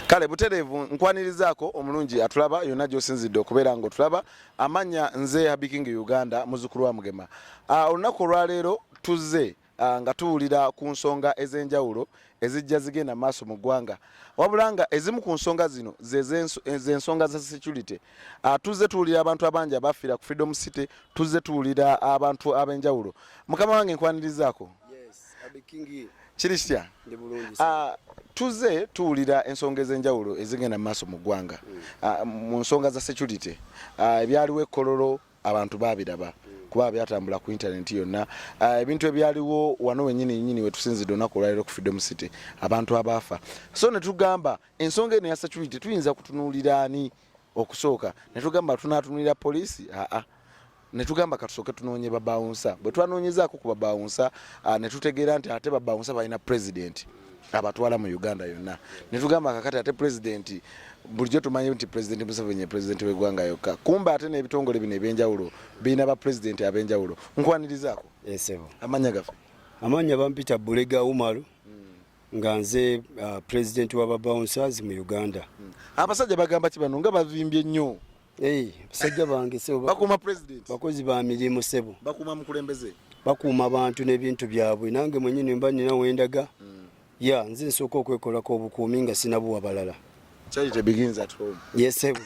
kale butereevu nkwanirizaako omulungi atulaba yonna gyosinzidde okubeera nga otulaba amanya nze habiking uganda muzukulu wa mugema ah, olunaku olwaleero tuzze Ah, nga tuwulira ku nsonga ez'enjawulo ezijja zigenda maaso mu ggwanga wabula nga ezimu ku nsonga zino zensonga za security ah, tuzze tuwulira abantu abangi abafiira ku freedom city tuzze tuwulira abantu ab'enjawulo mukama wange nkwanirizaako kiri kitya ah, tuzze tuwulira ensonga ez'enjawulo ezigenda mu maaso mu ggwanga hmm. mu nsonga za security ebyaliwo ekkololo abantu babiraba kuba byatambula ku internet yonna ah, ebintu ebyaliwo wano wenyini nyini wetusinzidde olunaku olwaliro ku freedom city abantu abaafa so netugamba ensonga eno ya security tuyinza kutunuulira ani okusooka netugamba tunatunulira poliisi aa netugamba katusooke tunoonye babawunsa bwe twanonyezaako ku babawunsa ah, netutegeera nti ate babawunsa balina president abatwala mu Uganda yonna netugamba kakati ate pulezidenti bulijjo tumanyi nti pulezidenti Museveni ye pulezidenti w'eggwanga yokka kumbe ate n'ebitongole bino ebyenjawulo birina ba pulezidenti ab'enjawulo nkwanirizaako esebo eh, amanya gaffe amanya bampita Bulega Umaru hmm. nga nze uh, pulezidenti wa babouncers mu Uganda hmm. abasajja bagamba ki bano nga bavimbye nnyo Hey, basajja bange sebo bakuma president bakozi ba milimu sebo bakuma mukulembeze bakuuma abantu n'ebintu byabwe nange mwenyini mba nina wendaga mm. ya nze nsooka okwekolako obukuumi nga sinabuwa balala yesebo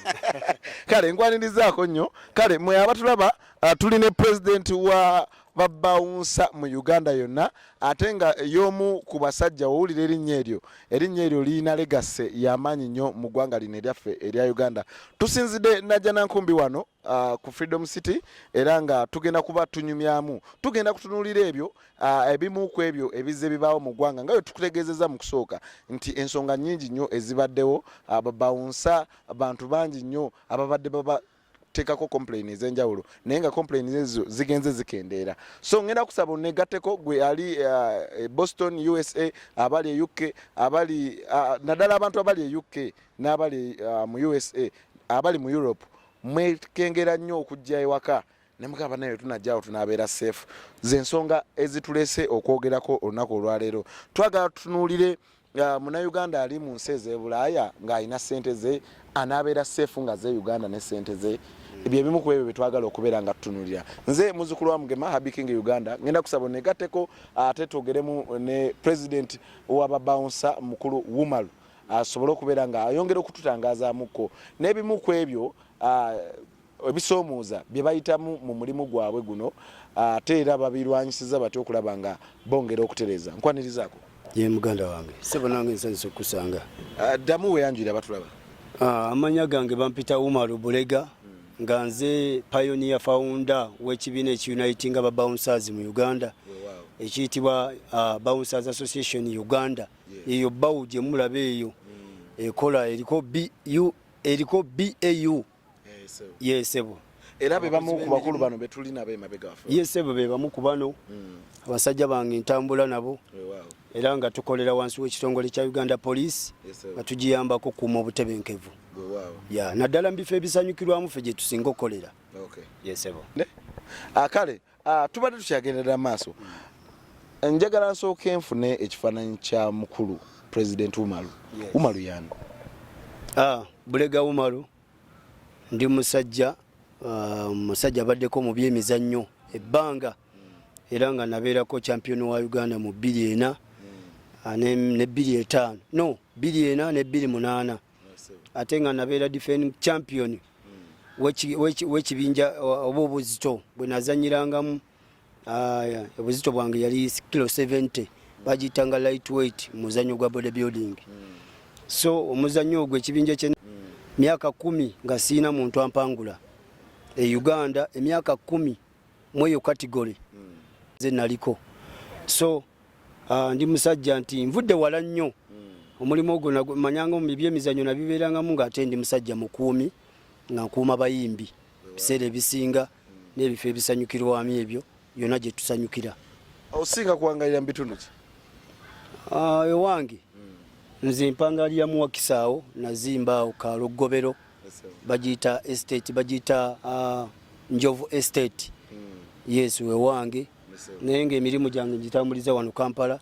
kale nkwanirizaako nnyo kale mwe abatulaba uh, tuli ne president wa babawunsa mu uganda yonna ate nga y'omu ku basajja wowulira erinnya eryo erinnya eryo lirina legase yamaanyi nnyo mu ggwanga lino eryaffe erya uganda tusinzidde najja nankumbi wano uh, ku freedom city era nga tugenda kuba tunyumyamu tugenda kutunulira ebyo uh, ebimu ku ebyo ebizze bibaawo mu ggwanga nga bwe tukutegeezeza mu kusooka nti ensonga nnyingi nnyo ezibaddewo uh, babawunsa bantu bangi nnyo ababadde baba tekako complain ezenjawulo naye nga complain ezo zigenze zikendeera so ngenda kusaba onegateko gwe ali uh, boston usa abali e uk abali uh, nadala abantu abali e uk n'abali uh, mu usa abali mu europe mwekengera nnyo okujja ewaka nemugamba naye tunajjawo tunabeera safe zensonga ezitulese okwogerako olunaku olwaleero twagala tutunuulire nga munauganda ali mu nsi ezebulaaya ng'alina ssente ze anaabeera seefu nga ze uganda ne ssente ze byebimu ku ebyo byetwagala okubeera nga tutunulira nze muzukulu wa mugema habiking uganda ngenda kusaba onegatteko ate twogeremu ne president wababounsa mukulu wumalu asobole okubeera nga ayongera okututangazamukko n'ebimu ku ebyo ebisoomooza bye bayitamu mu mulimu gwabwe guno ate era babirwanyisiza batya okulaba nga bongera okutereeza nkwanirizaako ye muganda wange sebo nange nsanyusa okukusanga ah, ddamu weyanjulira batulaba ah, amanya gange bampita umaru bulega nga nze pionia founder w'ekibiina ekiuniting aba bouncers mu uganda ekiyitibwa ah, bouncers association uganda eyo bawu gyemulaba eyo ekola eriko bu eriko bau ye sebo era be bamu ku bakulu bano betuli nabo emabega wafe ye sebo be bamu ku bano hmm. abasajja bange ntambula nabo era nga tukolera wansi w'ekitongole kya uganda police nga tugiyambako kuuma obutebenkevu naddala mu bifo ebisanyukirwamu fe gye tusinga okukolera ye sebo akale ah, Ah, tubadde tukyagendera maaso njagala nsooka enfune ekifaananyi kya mukulu president umaru umaru yani ah, bulega umaru ndi musajja ah, musajja abaddeko mu byemizannyo ebbanga era nga nabeerako champion wa uganda mu bbiri ena ne bbiri etaano no bbiri ena ne bbiri munaana ate nga nabeera defending champion wekibinja oba obuzito bwe nazanyirangamu obuzito bwange yali kilo 70 bagiyitanga light weight muzanyo gwa body building so omuzanyo ogwo ekibinja kye myaka kumi nga siina muntu ampangula e uganda emyaka kumi mweyo category nze naliko so uh, ndi musajja nti nvudde wala nnyo hmm. omulimu ogwo manyanga mu byemizanyo nabibeerangamu ng'ate ndi musajja mukuumi nga nkuuma bayimbi biseera ebisinga hmm. n'ebifo ebisanyukirwamu ebyo yonna gye tusanyukira osinga kuwangalira mu bitundu ki ah, ewange hmm. nze mpangalira muwakisaawo nazimbaawo kalogobero bagiyita estate bagiyita uh, njovu estate mm. yes wewange naye ngaemirimu gyange ngitambuliza wano kampala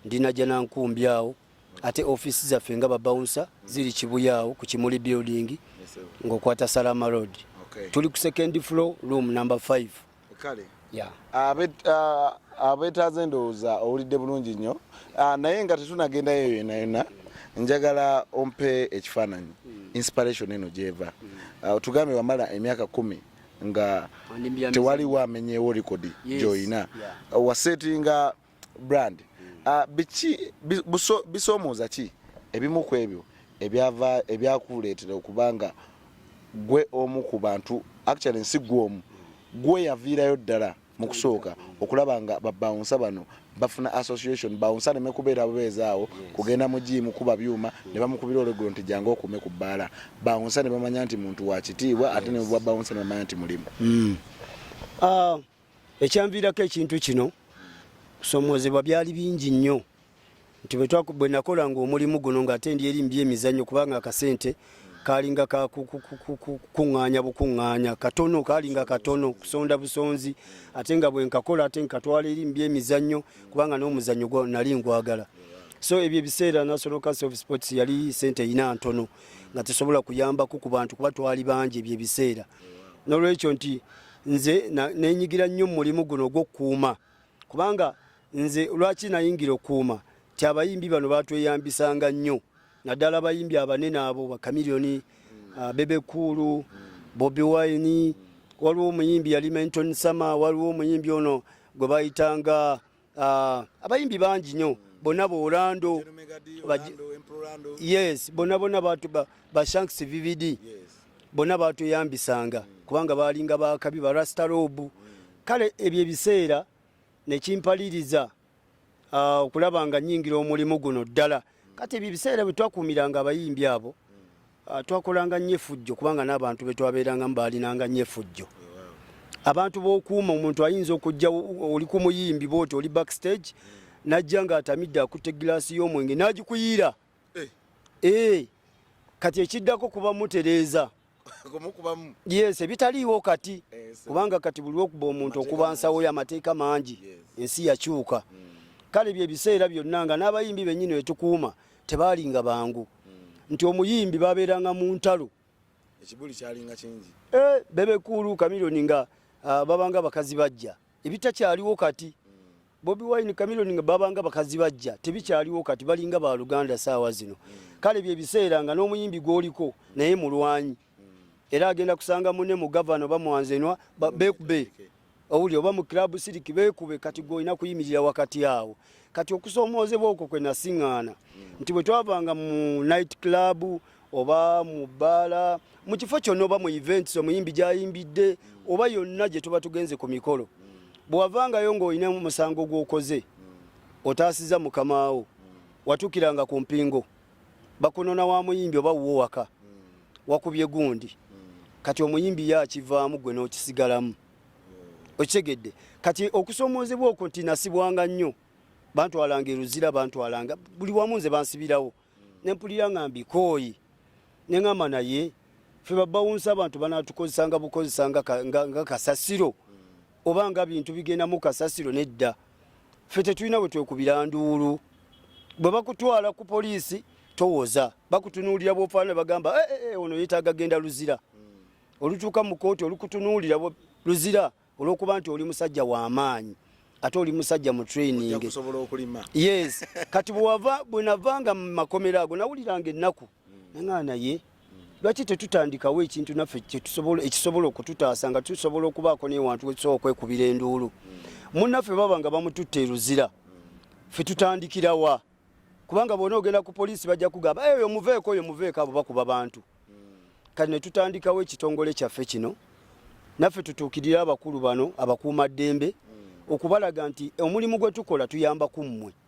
ndina janankumbi awo ate ofisi zaffe nga babaunsa mm. ziri kibuya awo ku kimuli building ngaokwata salama road okay. tuli ku second floor room number 5 kale abetaaze endowooza owulidde bulungi nnyo ah, naye nga tetunagendayo yona yona njagala ompe ekifaananyi hmm. inspiration eno gyeva hmm. ah, otugambe wamala emyaka kumi nga tewaliwo amenyewo likodi gyoyina wasetinga yeah. brand ah, biki bisomooza ki ebimu ku ebyo ebyava ebyakuleetera okuba nga gwe omu ku bantu actually nsi gwe omu gwe yaviirayo ddala mu kusooka okulaba nga babawunsa bano bafuna association bawunsa neme kubeera bubeezaawo kugenda mu jiimu kuba byuma ne bamukubira olwegulo nti jange okuume ku bbaala bawunsa ne bamanya nti muntu wa kitiibwa ate ne bwa bawunsa ne bamanya nti mulimu mm. ah, Ekyanviirako ekintu kino kusoomoozebwa byali bingi nnyo nti bwe nakolanga omulimu guno ng'ate ndi eri mu byemizannyo kubanga akasente kalinga kakukuŋŋaanya bukuŋŋaanya katono kalinga katono kusonda busonzi ate nga bwe nkakola ate nkatwala eri mu byemizannyo kubanga n'omuzannyo gwa nali ngwagala so ebyo ebiseera national council of sports yali sente erina ntono nga tesobola kuyambako ku bantu kuba twali bangi ebyo ebiseera n'olwekyo nti nze nenyigira nnyo mulimu guno ogwokukuuma kubanga nze lwaki nayingira okukuuma ti abayimbi bano batweyambisanga nnyo naddala abayimbi abanene abo bakamilioni uh, ah, bebekuulu bobi wine waliwo omuyimbi yali menton summer waliwo omuyimbi ono gwe bayitanga Ah, abayimbi bangi nyo bona bolando yes bona bona batu bashanks vvd bona batuyambisanga mm. kubanga balinga bakabi barastarobu mm. kale ebyo ebiseera nekimpaliriza ah, okulaba nga nyingira omulimu guno ddala mm. kati ebyo ebiseera bwe twakuumiranga abayimbi abo Ah, twakolanga nnyo efujjo kubanga n'abantu be twabeerangamu baalinanga nnyo efujjo abantu b'okuuma omuntu ayinza okujja oli ku muyimbi booti oli backstage n'ajja ng'atamidde akutte egiraasi y'omwenge n'agikuyiira eh. Eh, kati ekiddako kuba mutereeza yes ebitaliiwo kati eh, kubanga kati buli lwokuba omuntu okuba nsawo y'amateeka mangi ensi yakyuka hmm. kale bye biseera byonna nga n'abayimbi bennyini wetukuuma tebaalinga bangu hmm. nti omuyimbi babeeranga mu ntalo ekibuli kyalinga kingi eh, bebekuulu kamiloni nga ah, babanga bakazi bajja ebitakyaliwo kati bobi wine kamiloni nga babanga bakazi bajja tebikyaliwo kati balinga baluganda saawa zino kale byebiseera nga n'omuyimbi gwoliko naye mulwanyi era agenda kusanga mune mu gavana oba mwanzenwa bekube owuli oba mu club siriki bekube kati gwolina kuyimirira wakati awo kati okusoomoozebwa okwo kwe nasiŋŋaana nti bwe twavanga mu night club oba mu bbaala mu kifo kyonna oba mu events omuyimbi gyayimbidde oba yonna gye tuba tugenze ku mikolo bwewavangayo ng'olina omusango gw'okoze otaasiza mukamaawo watukiranga ku mpingo bakunona wa muyimbi oba wuwo waka wakubye gundi kati omuyimbi ye akivaamu gwe n'okisigalamu okitegedde kati okusoomoozebwa okwo nti nasibwanga nnyo bantwalanga eruzira bantwalanga buli wamu nze bansibirawo nempulira nga mbikooyi neŋamba naye fe babawunsa abantu banatukozesanga bukozesa nga kasasiro oba nga bintu bigendamu kasasiro nedda fe tetulina bwe twekubira nduulu bwe bakutwala ku poliisi towoza bakutunuulira bwofaana bagamba eh, eh, eh, ono yetaaga genda luzira olutuuka mu kooti olukutunuulira luzira olwokuba nti oli musajja wamaanyi ate oli musajja mu training yes kati bwenavanga mu makomero ago nawuliranga ennaku nangana naye lwaki tetutandikawo ekintu naffe ekisobola okututaasa nga tusobola okubaako newantu wetusobola okwekubira enduulu munaffe baba nga bamututte eruzira fe tutandikirawa kubanga bona ogenda ku poliisi bajja kugamba eyo eh, muveeko oyo muveeko abo bakuba bantu kati netutandikawo ekitongole kyaffe kino naffe tutuukirire abakulu bano abakuuma ddembe okubalaga nti omulimu gwe tukola tuyamba ku mmwe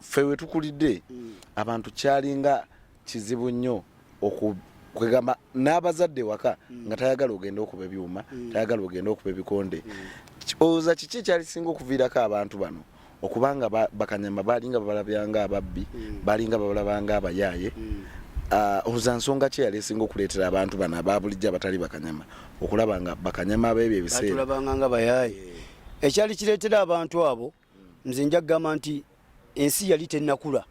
ffe wetukulidde mm. abantu kyalinga kizibu nnyo kwegamba n'abazadde waka mm. nga tayagala ogenda okuba ebyuma mm. tayagala ogenda okuba ebikonde oza kiki ekyalisinga okuviirako abantu bano okubanga bakanyama balinga babalabyanga ababbi balinga babalabanga abayaaye ah, oza nsonga ki yali esinga okuleetera abantu bano ababulijjo abatali bakanyama okulaba nga bakanyama abeebyo ebiseera ekyali kireetera abantu abo nze nja kugamba nti ensi yali tennakula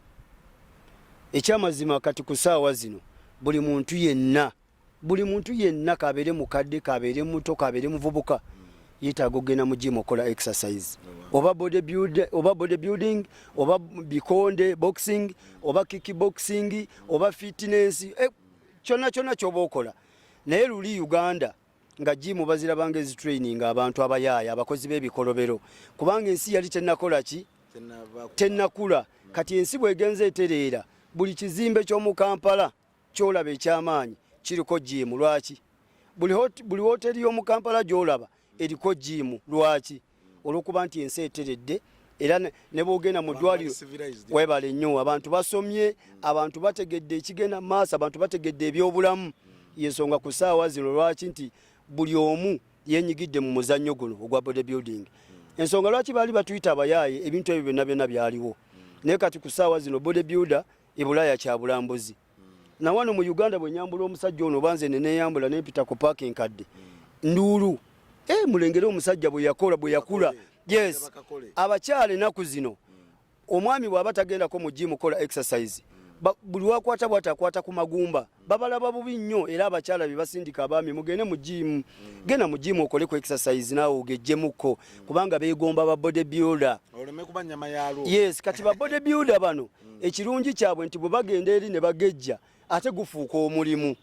ekyamazima kati ku saawa zino buli muntu yenna buli muntu yenna kabeere mukadde kabeere muto kabeere muvubuka yetaaga okugenda mu jimu okola exercise oba body build oba body building oba bikonde boxing oba kick boxing oba fitness eh, kyonna kyonna kyoba okola naye luli uganda nga jimu bazirabanga ezitraining abantu abayaaya abakozi b'ebikolobero kubanga ensi yali tenakola ki tenakula kati ensi bwegenza etereera buli kizimbe ky'omu kampala kyolaba ekyamaanyi kiriko jimu lwaki buli woteri y'omu kampala gyolaba eriko jimu lwaki olwokuba nti ensi eteredde era ne bwogenda mu ddwaliro webale nnyo abantu basomye abantu bategedde ekigenda mu maaso abantu bategedde ebyobulamu yensonga ku saawa zino lwaki nti buli omu yenyigidde mu muzannyo guno ogwa body building ensonga lwaki baali batuyita abayaaye ebintu ebyo byonna byonna byaliwo naye kati ku saawa zino body builder ebulaaya kyabulambuzi na wano mu Uganda bwe nyambula omusajja ono banze ne neyambula ne pita ku park enkadde nduulu eh mulengere omusajja bwe yakola bwe yakula yes abakyale naku zino omwami bwaba tagenda ko mu gym kola exercise buli wakwata bwata akwata ku magumba babalaba bubi nnyo era abakyala be basindika abaami mugende mu gym genda mu gym okole ku exercise nawe ogejjemuko kubanga beegomba ba body builder yes kati ba body builder bano hmm. ekirungi kyabwe nti bwe bagenda eri ne bagejja ate gufuuka omulimu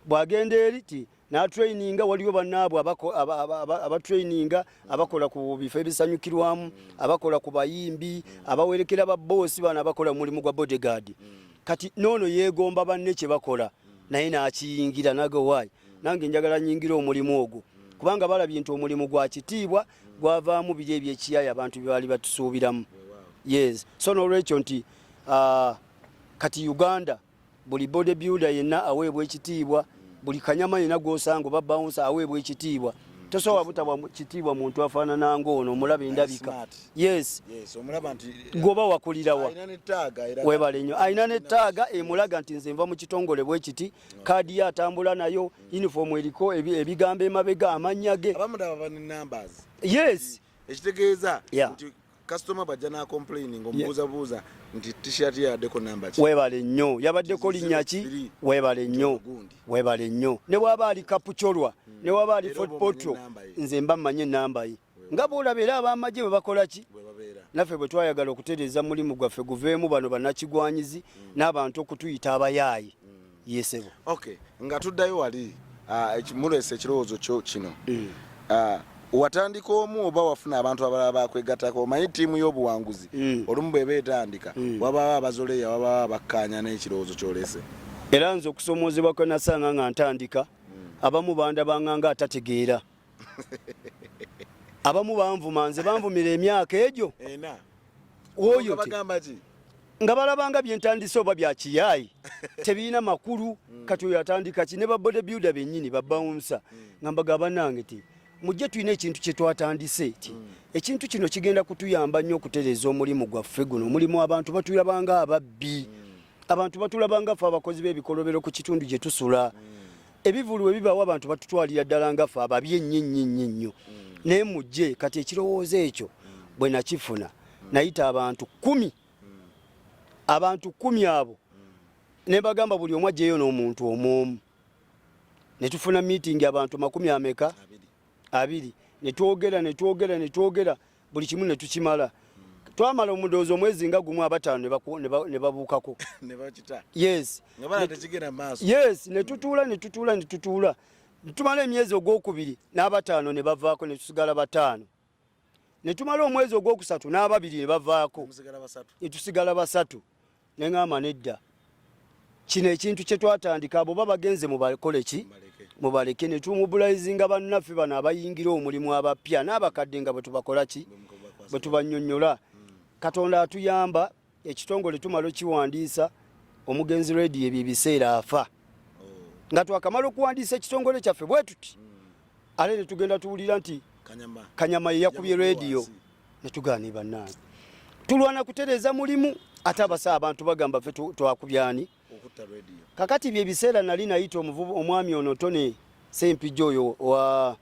bw'agenda eri ti n'atraininga waliwo bannaabwe abatraininga abakola ku bifo ebisanyukirwamu abakola ku bayimbi abawerekera babboosi bano abakola mu mulimu gwa bodyguard kati noono yeegomba banne kye bakola naye n'akiyingira nagowaayi nange njagala nyingira omulimu ogwo kubanga balabye nti omulimu gwa kitiibwa gwavaamu biri ebyekiyaayo abantu byebaali batusuubiramu yes so nolwekyo nti uh, kati uganda buli body builder yenna aweebwa ekitiibwa buli kanyama yenna gwosanga oba bawunsa aweebwa ekitiibwa tosobola butabwa kitiibwa muntu afaanana ngaono omulaba endabika yes gwoba wakulirawa webale nnyo alina nettaaga emulaga nti nze nva mu kitongole bwe kiti kaadi ye atambula nayo uniform eriko ebigambo emabega amannya ge yes ekitegeeza nti kasitoma bwajja n'akomplaini ngaomubuuzabuuza nti t-shirt yaddeko namba ki webale nnyo yabaddeko linnya ki webale nnyo webale nnyo ne bwaba ali kapucolwa ne waba ali fotpotro nze mba mmanyi enamba ye nga bwolaba era abamagye bwe bakola ki naffe bwe twayagala okutereeza mulimu gwaffe guveemu bano banakigwanyizi mm. n'abantu okutuyita abayaaye mm. yesebo nga tuddayo wali ah, mulesa ekirowoozo kyo kino mm. ah, watandika omu oba wafuna abantu abalala bakwegatako omanyi tiimu y'obuwanguzi olumu bweba etandika wabawo abazoleya wabawo abakkaanya n'ekirowoozo kyolese era nze okusoomoozebwa kwenasanga nga ntandika abamu bandabanganga atategeera abamu banvuma nze banvumira emyaka egyo oyo nga balabanga byentandise oba byakiyaayi tebirina makulu mm. kati oyo atandika ki ne babode builda benyini babawunsa mm. nga mbaga banange ti mujje tulina ekintu kyetwatandise ti mm. ekintu kino kigenda kutuyamba nnyo okutereeza omulimu gwaffe guno omulimu abantu batulabanga ababbi abantu batulabanga fe abakozi b'ebikolobero ku kitundu gye tusula ebivulu bwe bibawo abantu batutwalira ddala nga fe ababi ennyo ennyo ennyo ennyo naye mujje kati ekirowoozo ekyo bwe nakifuna nayita abantu kumi abantu kumi abo ne bagamba buli omu ajjeyo n'omuntu omu omu ne tufuna miitingi abantu makumi ameka abiri ne twogera ne twogera ne twogera buli kimu ne tukimala twamala omudoozi omwezi nga gumu abataano ne babuukako yes ne tutuula ne tutuula ne tutuula tumala emyezi ogwokubiri n'abataano ne bavaako ne tusigala bataano ne tumala omwezi ogwokusatu n'ababiri ne bavaako ne tusigala basatu ne ŋŋamba nedda kino ekintu kye twatandika abo ba bagenze mubakole ki mubaleke ne tumubulayizinga bannaffe bano abayingira omulimu abapya n'abakadde nga bwe tubakola ki bwe tubannyonnyola katonda atuyamba ekitongole tumala okiwandiisa omugenzi redi ebyo ebiseera afa oh. nga twakamala okuwandiisa ekitongole kyaffe bwe tuti hmm. ale ne tugenda tuwulira nti kanyama yeyakubye rediyo netugaani bannange tulwana kutereeza mulimu ate abasa abantu bagamba ffe twakubyani kakati byebiseera nali nayita omuvubu omwami ono tone sempijja oyo wa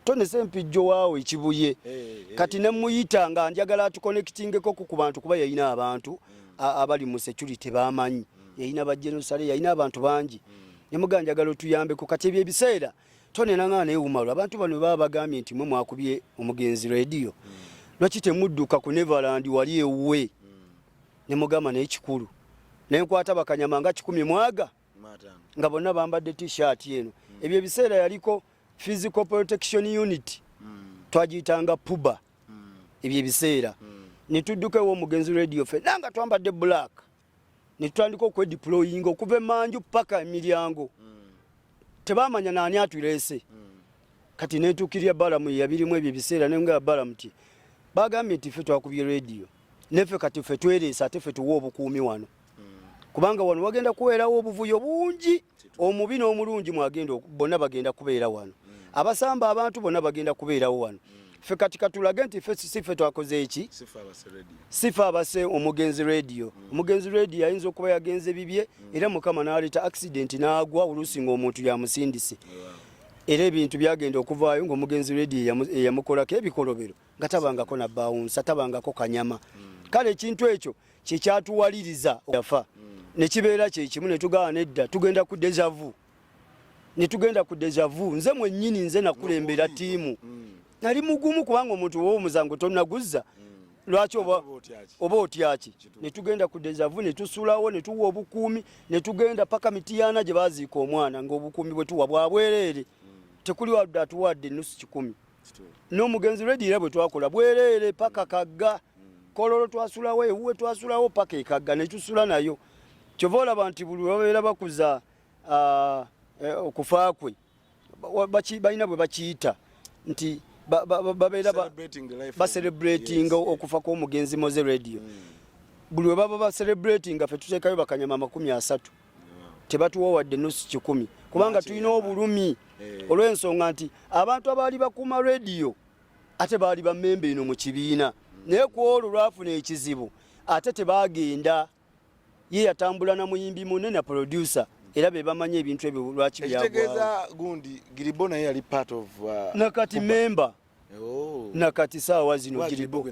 tone sempijjo waawo ekibuye eh, eh, eh. kati nemuyita nga njagala atukonekitingeko ku bantu kuba yalina abantu mm. abali mu security bamanyi mm. yalina bajenosale yalina abantu bangi mm. nemuga njagala otuyambeko kati ebyo ebiseera Tony Nanganga naye wumalu abantu bano baba bagambye nti mwe mwakubye omugenzi radio mm. lwaki temudduka ku Neverland wali ewuwe mm. ne mugamba naye kikulu naye nkwata bakanyama nga kikumi mwaga nga bonna bambadde t-shirt eno mm. ebyo ebiseera yaliko physical protection unit mm. twagiyitanga puba mm. ebyo ebiseera mm. ne tudduka ew'omugenzi radio fe nanga twambadde black ne tutandika okwediployinga okuva emanju paka emiryango tebamanya naani atuleese kati netukirya balamu yabirimu ebyo ebiseera nenga balamu ti bagambye nti fe twakubye rediyo nefe kati fe twereesa ate fe tuwa obukuumi wano kubanga wano wagenda kuweerawo obuvuyo bungi omubi n'omulungi mwagenda bonna bagenda kubeera wano abasamba abantu bonna bagenda kubeerawo wano ffe kati katulage nti sife twakoze eki sife abase omugenzi radio mm. omugenzi radio ayinza okuba yagenze bibye mm. era mukama naleeta accident n'agwa oluusi ng'omuntu yamusindise era ebintu byagenda okuvaayo ng'omugenzi radio eyamukolako ebikolobero nga tabangako nabaawunsa tabangako kanyama mm. kale ekintu ekyo kyekyatuwaliriza yafa nekibeera kyekimu netugawa nedda tugenda ku dejavu netugenda ku dejavu nze mwenyini nze nakulembera tiimu mm. nali mugumu kubanga omuntu wowo musango tonaguzza mm. lwaki oba otyaki netugenda ku dejavu netusulawo netuwa obukuumi netugenda paka mitiyana gye baziika omwana ngaobukuumi bwetuwa bwabwereere mm. tekuli wadde atuwadde enusu kikumi n'omugenzi redi era bwe twakola bwereere paka kagga kololo twasulawo ewuwe twasulawo paka ekagga netusula nayo kyova olaba nti buli babeera bakuza e, okufa kwe balina bwe bakiyita nti babeera bacelebratinga okufa kw'omugenzi moze radio mm. buli webaba bacelebratinga fe tuteekayo bakanyama amakumi asatu tebatuwa wadde nusu kikumi kubanga tulina obulumi eh. olw'ensonga nti abantu abaali bakuuma rediyo ate baali bamemba eno mu kibiina naye ku olwo lwafuna ekizibu ate tebaagenda ye yatambula na muyimbi munne na producer era be bamanyi ebintu ebyo lwaki byagwa ekitegeeza gundi giribo naye yali part of uh, nakati memba Oh. nakati saawa zino giribo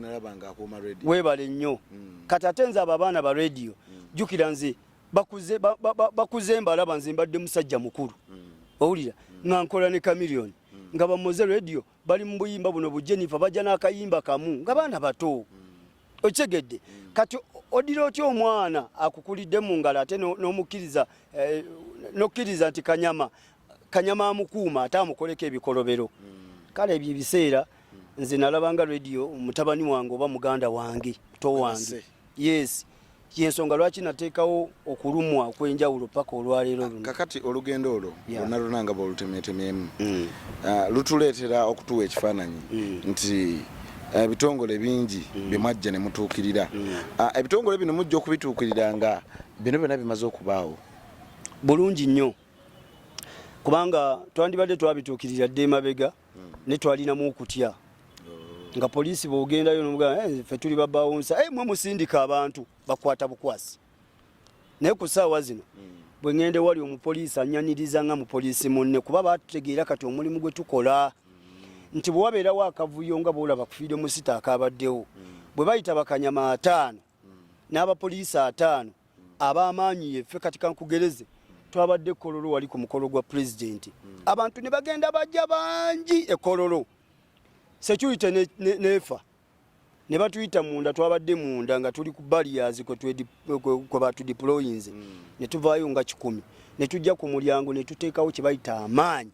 webale nnyo mm. kati ate nze abo abaana ba radio mm. jukira nze bakuze ba, ba, ba, ba mbalaba nze mbadde musajja mukulu mm. owulira mm. nga nkola ne camilion mm. nga bamoze radio bali mu buyimba buno bu jennifer bajja n'akayimba kamu nga baana bato mm. okitegedde mm. kati odira otya omwana akukulidde mu ngalo ate n'omukkiriza no eh, n'okkiriza nti kanyama kanyama amukuuma ate amukoleko ebikolobero hmm. kale ebyo ebiseera nze nalabanga radio mutabani wange oba muganda wange to wange yes yensonga lwaki nateekawo okulumwa okwenjawulo paka olwaleero luno kakati olugendo olwo lwonna lwona nga bwolutemeetemeemu mm. ah, lutuleetera okutuwa ekifaananyi mm. nti ah, ebitongole bingi mm. byemwajja ne mutuukirira ah, ebitongole bino mujja okubituukirira nga bino byona bimaze okubaawo bulungi nnyo kubanga twandibadde twabituukirira dde emabega hmm. ne twalinamu okutya oh. nga poliisi bwogendayo nomugamba eh, ffe tuli babawunsa eh, mwe musindika abantu bakwata bukwasi naye ku saawa zino hmm. bwe ŋŋende wali omupoliisi anyaniriza nga mupoliisi munne kuba batutegeera kati omulimu gwe tukola hmm. nti bwe wabeerawo akavuyo nga bwolaba kufiire musita akabaddewo bwe bayita bakanyama ataano n'abapoliisi ataano ab'amaanyi yeffe kati kankugereze twabadde ekololo wali ku mukolo gwa pulezidenti hmm. abantu ne bagenda bajja bangi ekololo security nefa ne batuyita munda twabadde munda nga tuli ku baliyazi kwe batudiployinze hmm. ne tuvaayo nga kikumi ne tujja ku mulyango ne tuteekawo kye bayita amaanyi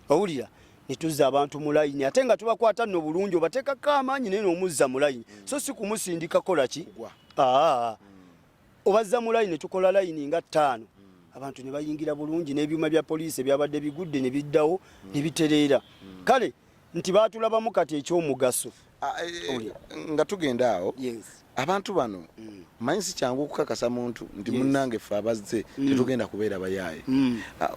owulira netuzza abantu mu layini ate nga tubakwata nno bulungi obateekako amaanyi naye nomuzza mu layini so si kumusindika kola ki aa obazza mu layini netukola layini nga ttaano abantu ne bayingira bulungi n'ebyuma bya poliisi ebyabadde bigudde ne biddawo ne bitereera kale nti baatulabamu kati ekyomugaso ah, eh, eh, nga tugenda awo abantu bano mm. manyi si kyangu okukakasa muntu nti munnange ffe abazze mm. tetugenda kubeera bayaaye mm. ah,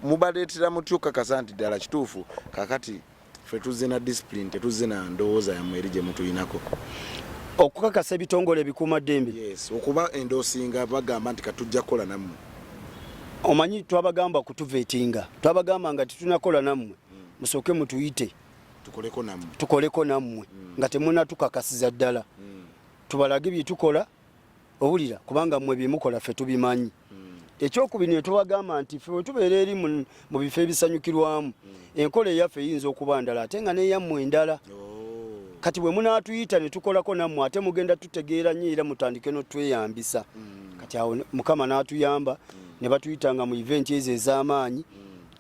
mubaleetera mutya okukakasa nti ddala kituufu kakati ffe tuzze na disipulini tetuzze na ndowooza yammwe eri gye mutuyinako okukakasa ebitongole ebikuuma ddembe okuba endoosinga bagamba nti katujja kukola nammwe omanyi twabagamba kutuvetinga twabagamba nga tetunakola nammwe musooke mutuyite tukoleko nammwe mm. nga temunatukakasiza ddala mm. tubalage byetukola owulira kubanga mmwe byemukola ffe tubimanyi mm. ekyokubiri ne tubagamba nti ffe wetubeera eri mu bifo ebisanyukirwamu enkola eyaffe eyinza okuba ndala ate nga neyammwe endala oh. kati bwe munaatuyita ne tukolako nammwe ate mugenda tutegeera nyo era mutandike notweyambisa kati awo mukama n'atuyamba ne batuyitanga mu eventi ezo ez'amaanyi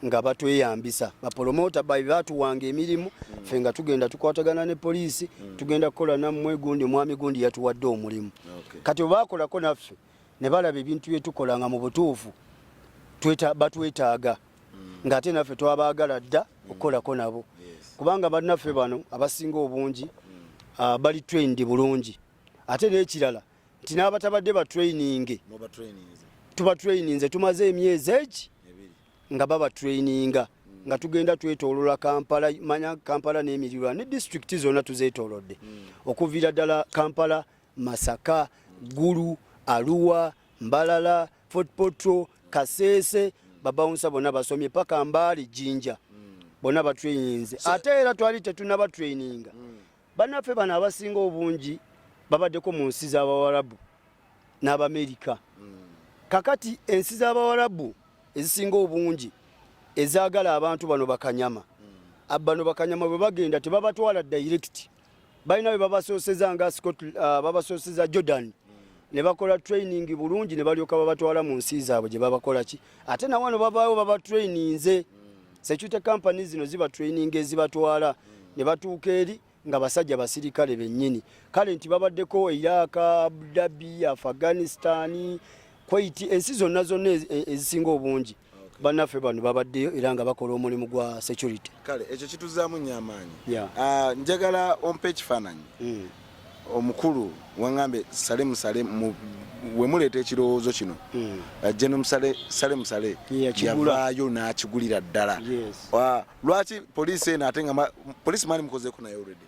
nga batweyambisa bapolomota babi batuwanga emirimu mm. fe nga tugenda tukwatagana ne poliisi mm. tugenda kukola nammwe gundi omwami gundi yatuwadde omulimu okay. kati obakolako naffe ne balaba ebintu byetukola nga mu butuufu batwetaaga mm. ng'ate naffe twabaagala dda mm. okukolako nabo yes. kubanga bannaffe bano abasinga obungi mm. uh, bali trained bulungi ate n'ekirala nti n'abatabadde batraininge tubatraininze tumaze emyezi egi nga babatraininga hmm. nga tugenda twetolola kampala manya kampala n'emirirwa ne disitulikiti zonna tuzetolodde hmm. okuviira ddala kampala masaka gulu aluwa mbalala fort potro kaseese babawunsa bonna basomye paka mbaali jinja hmm. bonna batraininze ate era twali tetunabatraininga Bannaffe bano abasinga obungi babaddeko mu nsi z'Abawarabu n'Abamerika. Kakati ensi z'Abawarabu ezisinga obungi ezaagala abantu bano bakanyama. Bano bakanyama bwe bagenda tebabatwala direct. Balina bwe babasooseza nga Scott uh, babasooseza Jordan ne bakola training bulungi ne balyoka babatwala mu nsi zaabwe gye babakola ki ate na wano babaawo babatraininze security company zino ziba training ezibatwala ne batuuka eri nga basajja basirikale bennyini kale nti babaddeko iraq abdabi afghanistani kwaiti ensi zonna zonna e, e, ezisinga obungi bannaffe bano babaddeyo era nga bakola omulimu gwa security kale ekyo kituzaamu nyo amaanyi ah, njagala ompa ekifaananyi hmm. omukulu wangambye sale musale wemuleeta ekirowoozo kino hmm. uh, geno sale musale yavaayo n'akigulira ddala uh, lwaki poliisi eno ate nga poliisi mani mukozeeko naye olredi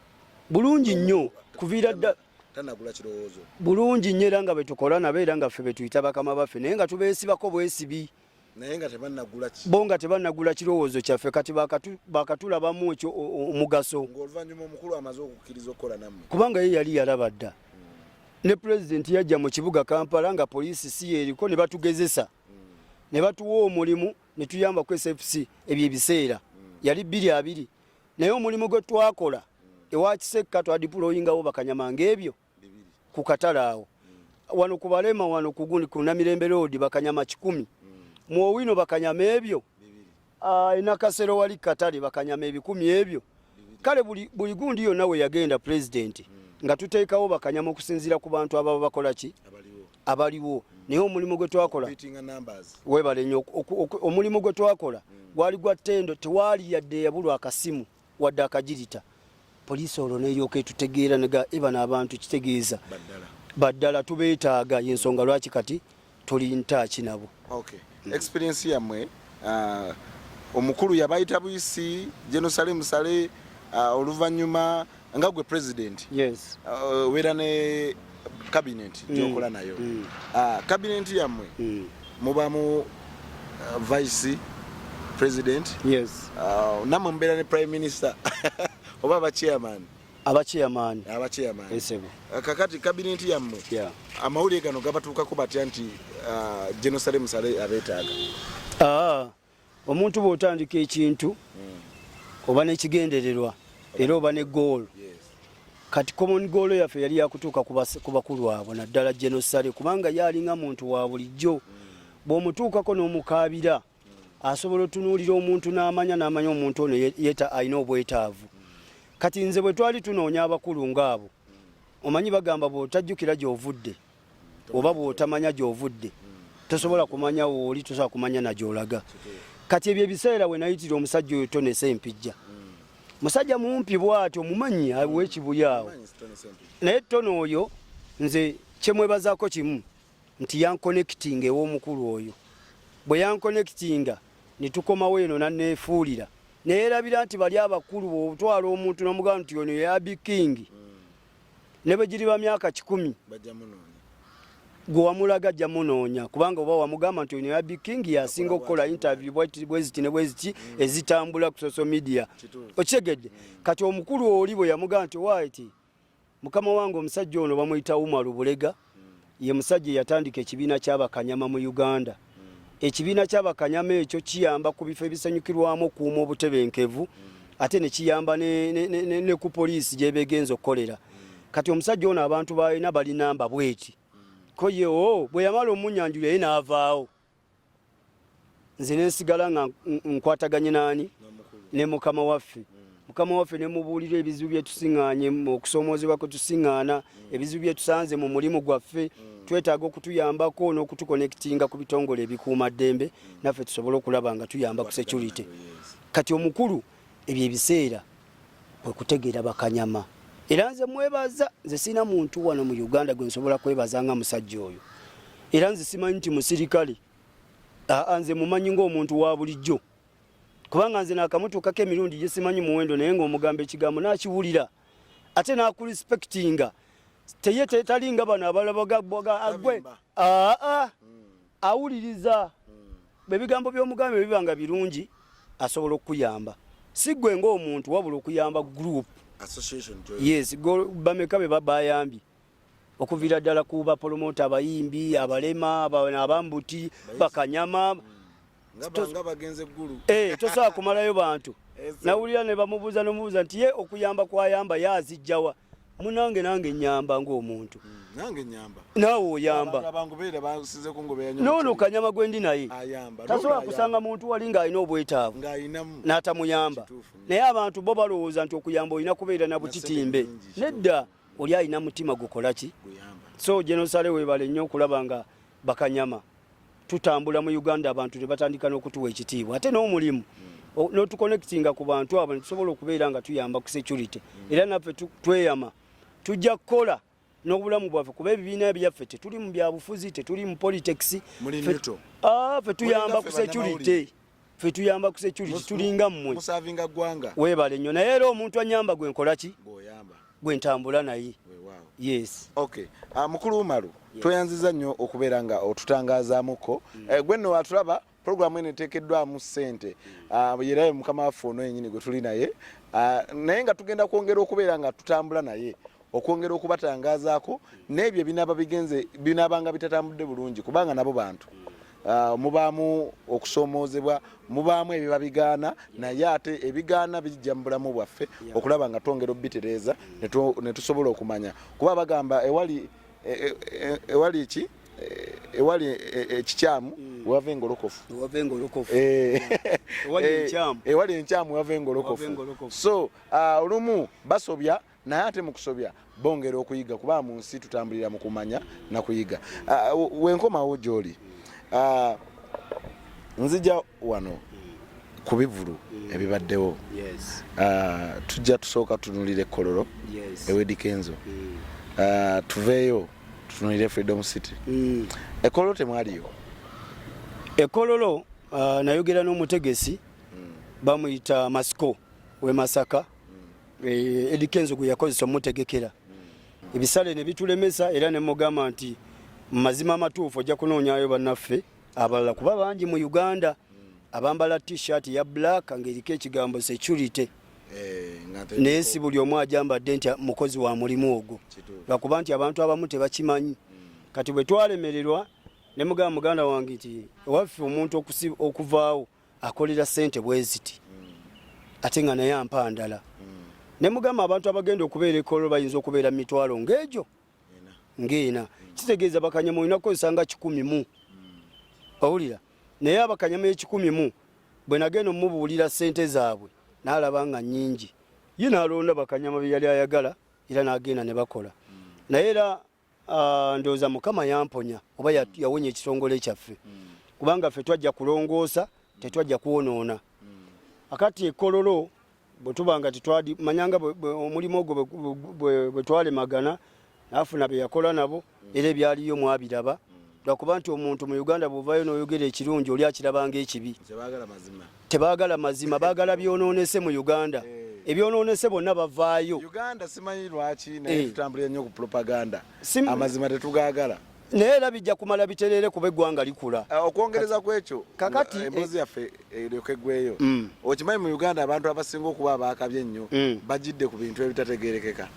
bulungi nnyo kuviira ddala tanagula kirowoozo bulungi nnyo era nga betukola nabo era nga ffe betuyita bakama baffe naye nga tubeesibako bwesibi naye nga tebanagula ki bo nga tebanagula kirowoozo kyaffe kati bakatulabamu ekyo omugaso ng'oluvannyuma omukulu amaze okukkiriza okukola nammwe kubanga ye yali yalaba dda ne pulezidenti yajja mu kibuga kampala nga poliisi si yeeriko ne batugezesa mm. ne batuwa omulimu ne tuyamba ku sfc ebyo ebiseera mm. yali bbiri abiri naye omulimu gwe twakola mm. ewa kisekka twadipuloyingawo bakanyama ng'ebyo mm. ku katale awo wano ku balema wano kuguni ku namirembe road bakanyama kikumi mu owino bakanyama ebyo ah, enakasero wali katale bakanyama ebikumi ebyo kale buli gundi yonna we yagenda pulezidenti nga tuteekawo bakanyama okusinziira ku bantu ababa bakola ki abaliwo naye omulimu gwe twakola webale nyo omulimu gwe twakola gwali gwa ttendo tewaali yadde yabulwa akasimu wadde akagirita poliisi olwo neryoka etutegeera nega ebano abantu kitegeeza baddala tubeetaaga yensonga lwaki kati tuli ntaaki nabo okay. mm. experience yamwe uh, omukulu yabayita buyisi jenosale musale uh, oluvannyuma nga gwe president yes. uh, wera ne kabineti mm. gyokola nayo mm. ah, kabineti yammwe mm. mubamu uh, vice president yes. uh, namwe mubeera ne prime minister oba abachairman abachairman abachairman esebo uh, kakati kabineti yammwe yeah. amawulire gano gabatuukako batya nti uh, jerusalem sale abeetaaga ah. omuntu bw'otandika ekintu oba n'ekigendererwa era oba ne goolo kati common goolo yaffe yali yakutuuka ku bakulu abo naddala genosale kubanga ye alinga muntu wa bulijjo bw'omutuukako n'omukaabira asobola otunuulira omuntu n'amanya n'amanya omuntu ono yeta alina obwetaavu kati nze bwe twali tunoonya abakulu ng'abo omanyi bagamba bw'otajjukira gy'ovudde oba bwotamanya gyovudde tosobola kumanya wooli tosobola kumanya nagyolaga kati ebyo ebiseera wenayitira omusajja oyo tonese empijja musajja mumpi bwati omumanyi awekibuyaawo naye tona oyo nze kyemwebazako kimu nti yankonekitinga ewomukulu oyo bwe yankonekitinga netukomawo eno nanefuulira neyerabira nti bali abakulu bwotwala omuntu nomugamba nti ono yabikingi mm. ne bwe giriba myaka kikumi gwe wamulaga ajja munoonya kubanga oba wamugamba nti ono yabi king yasinga okukola interview bweziti ne bweziti mm. ezitambula ku social media okitegedde kati omukulu oli bwe yamugamba nti waiti mukama wange omusajja ono bamuyita umaru bulega ye musajja eyatandika ekibiina ky'abakanyama mu Uganda. Ekibiina ky'abakanyama ekyo kiyamba ku bifo ebisanyukirwamu okuuma obutebenkevu ate ne kiyamba ne ku poliisi gyebegenza okukolera. Kati omusajja ono abantu balina bali namba bweti koyewo oh, bwe yamala omunyanjula ye n'avaawo nze nensigala nga nkwataganye naani ne mukama waffe mm. mukama waffe nemubuulira ebizibu byetusiŋŋaanye okusoomoozebwa kwe tusiŋŋaana mm. ebizibu byetusanze mu mulimu gwaffe mm. twetaaga okutuyambako n'okutukonekitinga ku bitongole ebikuuma ddembe naffe tusobole okulaba nga tuyamba ku security kati omukulu ebyo ebiseera kwe kutegeera bakanyama era nze mwebaza nze sina muntu wano mu Uganda gwe nsobola kwebaza nga musajja oyo era nze simanyi nti musirikale aa nze mumanyi ng'omuntu wa bulijjo kubanga nze naakamutuukako emirundi gye simanyi muwendo naye ng'omugamba ekigambo naakiwulira ate naakulispekitinga teye tetalinga bano abalabaga agwe aa awuliriza Ebigambo by'omugambye biba nga birungi asobola okukuyamba si gwe ng'omuntu wabula okuyamba group yes bameka be babayambye okuviira ddala ku bapolomota abayimbi abalema abambuti bakanyama eh, tosobola kumalayo bantu nawulira ne bamubuuza nomubuuza nti ye okuyamba kwayamba ye azijjawa munange nange nyamba ng'omuntu hmm, naawe oyamba noono kanyama gwendi naye tasobola kusanga muntu wali ng'alina obwetaavu n'atamuyamba naye abantu bo balowooza nti okuyamba olina kubeera na butitimbe nedda oli alina mutima gukola ki so jenosale webale nnyo okulaba nga bakanyama tutambula mu Uganda abantu ne batandika n'okutuwa ekitiibwa ate n'omulimu hmm. n'otuconnectinga ku bantu abo netusobola okubeera nga tuyamba ku security hmm. era naffe tweyama tujja kukola n'obulamu bwaffe kuba ebibiina byaffe tetuli mu byabufuzi tetuli mu politics fe ah, tuyamba ku security fe tuyamba ku security tulinga mmwe musavinga gwanga webale nyo naye era omuntu anyamba gwe nkola ki boyamba gwe ntambula naye yes okay uh, mukulu umaru yes. tweyanziza nyo okubera nga otutangazamuko mm. eh, gwe no watulaba program ene tekedwa mu sente mm. uh, yerayo mukama wafu ono yenyini gwe tuli naye uh, naye nga tugenda kwongera okubera nga tutambula naye okwongera okubatangazaako n'ebyo ebinaaba bigenze binaabanga bitatambudde bulungi kubanga nabo bantu ah, mubaamu okusoomoozebwa mubaamu ebiba bigaana naye ate ebigaana bijja mu bulamu bwaffe okulaba nga twongera obubitereeza ne tusobola okumanya kuba bagamba ewali e, e, e, ewali ki ewali ekikyamu mm. wava engolokofu ewali enkyamu wava engolokofu so ah, olumu basobya naye ate mukusobya bongera okuyiga kuba mu nsi tutambulira mu kumanya na kuyiga ah, wenkomawo gyoli ah, nzija wano ku bivulu mm. ebibaddewo ah, tujja tusooka tunulira ekkololo ewedikenzo mm. tuveeyo tutunulire freedom city mm. ekololo temwaliyo ekololo uh, nayogera n'omutegesi mm. bamuyita masiko we masaka Eh, Eddie Kenzo gwe yakozesa omutegekera ebisale ne bitulemesa era ne mugamba nti mu mazima amatuufu ojja kunoonyayo bannaffe abalala kuba bangi mu Uganda abambala t-shirt ya black ng'eriko ekigambo security eh, naye si buli omu ajambadde nti mukozi wa mulimu ogwo lwakuba nti abantu abamu tebakimanyi kati bwe twalemererwa ne mugamba muganda wange nti ewaffe omuntu okuvaawo akolera sente bweziti ate nga naye ampa ndala ne mugamba abantu abagenda okubeera ekolo bayinza okubeera mitwalo ngaegyo ngaena kitegeeza bakanyama olina kukozesa nga kikumi mu owulira naye abakanyama ekikumi mu bwe nagenda omubuulira sente zaabwe naalaba nga nyingi ye nalonda bakanyama bye yali ayagala era nagenda ne bakola naye era Ah, ndowooza mukama yamponya oba mm. yawonya ekitongole kyaffe mm. kubanga ffe twajja kulongoosa mm. tetwajja kwonoona akati ekololo bwetuba nga tetwadi manyanga omulimu ogwo bwetwalemagana nafuna beyakola nabo era ebyaliyo mwabiraba lwakuba nti omuntu mu uganda bwovayo noyogera ekirungi oli akirabanga ekibi tebagala mazima bagala byononese mu uganda eh. ebyononese bonna bavaayo naye era bijja kumala bitereere kuba eggwanga likula ah, okwongereza kwekyo kakati eh, emboozi yaffe eryoke gweyo mm. okimanyi mu uganda abantu abasinga okuba abaakabye ennyo mm. bajidde ku bintu ebitategerekeka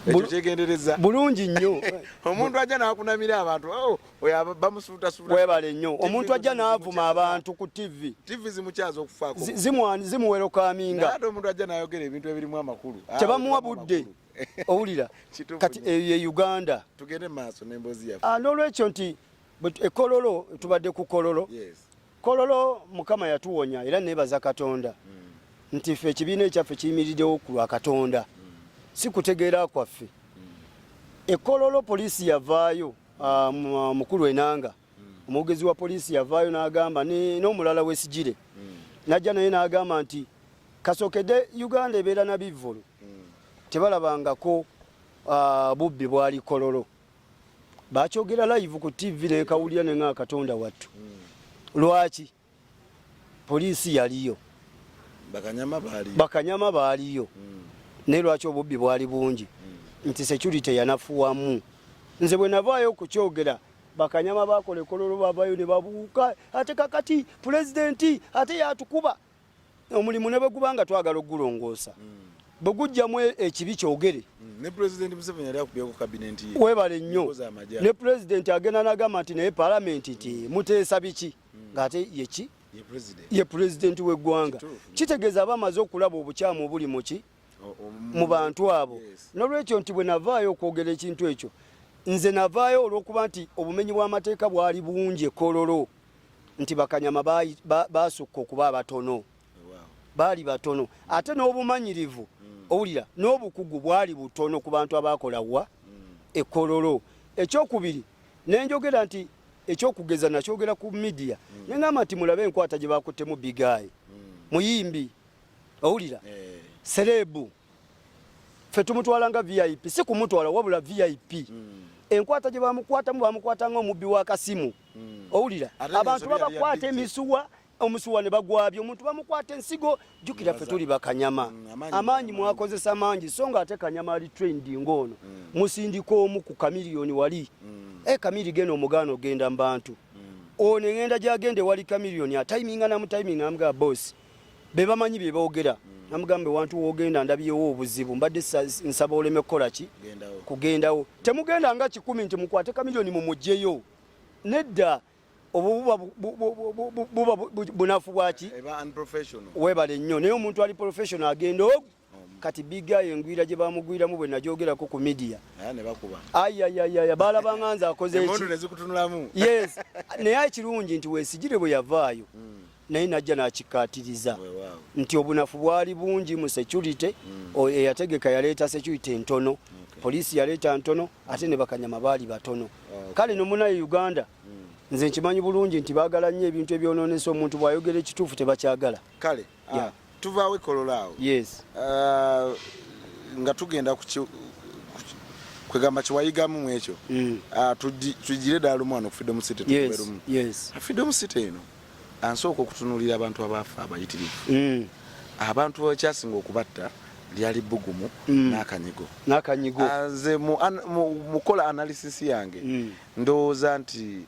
ekyo kyegendereza bulungi nnyo omuntu ajja nakunamira abantu oh, oyo bamusuutasuuta webale nnyo omuntu ajja navuma abantu ku tv tv zimukyaza okufaako zimuwerokaminga ate omuntu ajja nayogera ebintu ebirimu amakulu ah, tebamuwa budde owulira kati eyo eh, ye uganda tugende maaso nembozi yaffe ah, n'olwekyo nti ekololo tubadde ku kololo yes. Kololo Mukama yatuwonya era nebaza Katonda mm. nti ffe ekibiina ekyaffe kiyimiridewo ku lwa Katonda mm. si kutegeera kwaffe mm. ekololo poliisi yavaayo ah, mukulu enanga omwogezi wa poliisi yavaayo n'agamba n'omulala wesigire najja naye n'agamba nti kasokedde uganda ebeera na bivvulu tebalabangako ah, bubbi bwali kololo bakyogera live ku tv nekawulira nenga katonda wattu lwaki poliisi yaliyo bakanyama baaliyo hmm. naye lwaki obubbi bwali bungi hmm. nti security yanafuwamu nze bwe navaayo okukyogera bakanyama bakola ekololo bavayo ne babuuka ate kakati pulezidenti ate yatukuba omulimu ne bwe guba nga twagala okugulongoosa bwe gujjamu e- ekibi kyogere ne president museveni yali akubye ku cabinet ye webale nnyo Enkozi amagya. ne pulezidenti agenda nagamba nti naye palamenti nti muteesa biki ng'ate yeki ye president ye pulezidenti w'eggwanga Kituufu. kitegeeza aba amaze okulaba obukyamu obuli muki mu bantu abo nolwekyo nti bwe navaayo okwogera ekintu ekyo nze navaayo olwokuba nti obumenyi bw'amateeka bwali bungi ekololo nti bakanyama baasukka okuba abatono baali batono ate n'obumanyirivu mm. owulira n'obukugu bwali butono ku bantu abaakola wa mm. ekololo ekyokubiri nenjogera nti ekyokugeza nakyogera ku midiya mm. nengamba nti mulabe enkwata gye bakuttemu bigaayi muyimbi owulira eh. serebu ffe tumutwala nga vip si kumutwala wabula vip hmm. enkwata gye bamukwatamu bamukwata nga omubbi w'akasimu hmm. owulira abantu babakwata emisuwa omusuwa ne bagwabya omuntu bamukwata ensigo jukira ffe tuli bakanyama hmm, amaanyi mwakozesa mangi so nga ate kanyama ali trend ng'ono musindika omu ku kamiliyoni wali e kamiri gena omugaana ogenda mu bantu ono eŋenda gyagenda ewali kamiliyoni ataiminga namutaiminga amugaa bosi bebamanyi byebogera mm. namugambe wantu wogenda ndabyewo obuzibu mbadde nsaba oleme kukolaki kugendawo temugenda nga kikumi nti mukwate kamilioni mumugyeyo nedda obububa bunafu bwaki webale nnyo naye omuntu ali professional agenda ogu kati bigayo engwira gye bamugwiramu bwe nagyogerako ku midiya ayayayaya baalabanga nze akozenaye ekirungi nti wesigire bwe yavaayo hmm. naye najja nakikatiriza nti obunafu bwali bungi mu security hmm. eyategeka yaleeta security entono poliisi yaleeta ntono ate ne bakanyama baali batono kale nomunaye uganda hmm. nze nkimanyi bulungi nti bagala nnyo ebintu ebyononesa omuntu bwayogera ekituufu tebakyagala ah, tuvaawo ekolola awo yes uh, nga tugenda ku kwegamba kyewayigamu mu ekyo mm. ah, tugire ddala lumu wano ku freedom city tuberumu ah, freedom city eno ansooka okutunulira abantu abaafa abayitirivu mm. abantu bakyasinga okubatta lyali bugumu mm. n'akanyigo n'akanyigo ah, nze mu kukola analysis yange ndowooza nti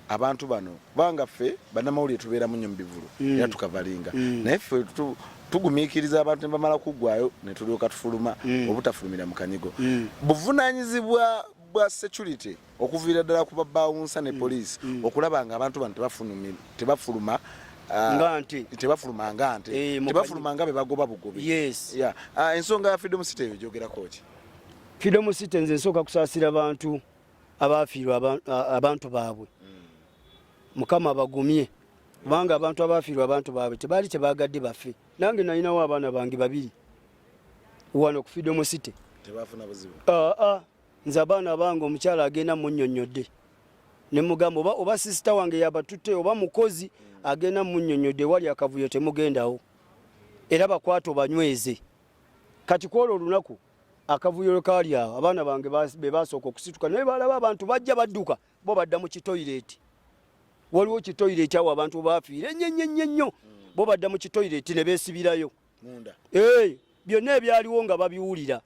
abantu bano kubanga ffe bannamawulire tubeeramu nnyo mu bivulu mm. era tukavalinga mm. naye ffe tugumiikiriza abantu ne bamala kuggwayo ne tulyoka tufuluma mm. obutafulumira mu kanyigo buvunaanyizibwa bwa security okuviira ddala ku babaawunsa ne poliisi okulaba nga abantu bano tebafuluma Ah, ngante tebafuluma ngante eh, tebafuluma ngabe bagoba bugobi yes yeah uh, ensonga ya freedom city eyo jogerako ki freedom city nze nsoka kusasira bantu abaafiirwa abantu baabwe mukama abagumye kubanga abantu abaafiirwa abantu baabwe tebaali tebaagadde baffe nange nalinawo abaana bange babiri wano ku freedom city ah, ah. nze abaana abange omukyala agenda munyonyodde nemugamba oba, oba sisita wange yabatutte oba mukozi agenda munyonyodde wali akavuyo temugendawo era bakwata obanyweze kati kwolwo olunaku akavuyo lwe kaali awo abaana bange be baasooka okusituka naye baalaba abantu bajja badduka bo badda mu kitoyireeti waliwo kitoyireeti awo abantu baafiire ennyennyennye nnyo hmm. bo badda mu kitoyireeti ne beesibirayo ee byonna ebyaliwo nga babiwulira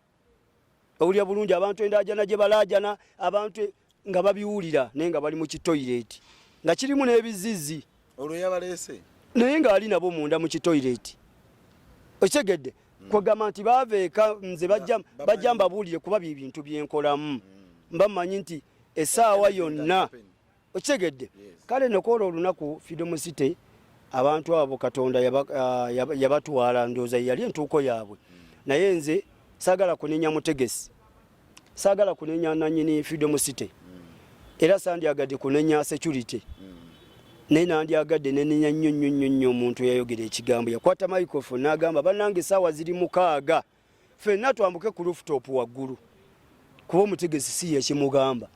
owulira bulungi abantu endaajana gye balaajana abantu e, nga babiwulira naye nga bali mu kitoyireti nga kirimu n'ebizizi olwo yabaleese naye ng'ali nabo munda mu kitoyireti okitegedde hmm. kwegamba nti baava eka nze bajja mbabuulire kuba bye bintu byenkolamu hmm. mba mmanyi nti essaawa yonna okitegedde kale nokoola olunaku freedom city abantu abo katonda ah, yabatwala ndooza yali entuuko yaabwe hmm. naye nze sagala kunenya mutegesi Saagala kunenya nannyini Freedom City era sandyagadde kunenya security naye nandyagadde nenenya nnyo nnyo nnyo nnyo omuntu eyayogera ekigambo yakwata microphone n'agamba bannange esaawa ziri mukaaga fenna twambuke ku rooftop waggulu kuba omutegesi si yekimugamba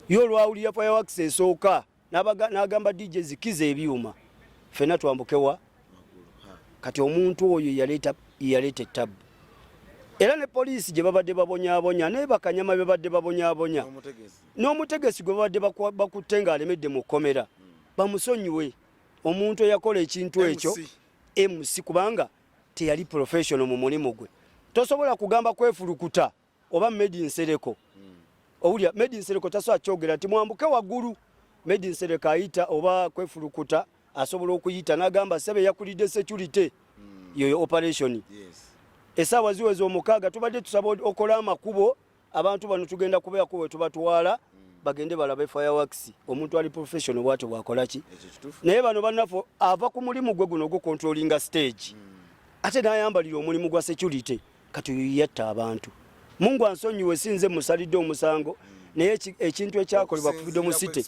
ye olwawulira fireworks esooka n'agamba DJ zikiza ebyuma fena twambukewa kati omuntu oyo yaleeta ettabu era ne poliisi gye babadde babonyabonya naye bakanyama be babadde babonyabonya n'omutegesi gwe babadde bakutte ng'alemedde mu kkomera hmm. bamusonyiwe omuntu eyakola ekintu ekyo mc kubanga teyali professional mu mulimu gwe tosobola kugamba kwefulukuta oba medi nsereko hmm. owulira medi nsereko tasobola kyogera nti mwambuke waggulu medi nsereko ayita oba kwefulukuta asobola okuyita nagamba sebe yakulidde security hmm. yoyo operation esaawa ziweza omukaaga tubadde tusaba okola amakubo abantu bano tugenda kubeako wetubatwala bagende balabe fireworks omuntu ali professional bwatyo bwakolaki naye bano banafu ava ku mulimu gwe guno ogukontrolinga stage hmm. ate nayambalira omulimu gwa security kati oyo yatta abantu mungu ansonyiwe sinze musalidde omusango naye ekintu ekyakolebwa ku freedom city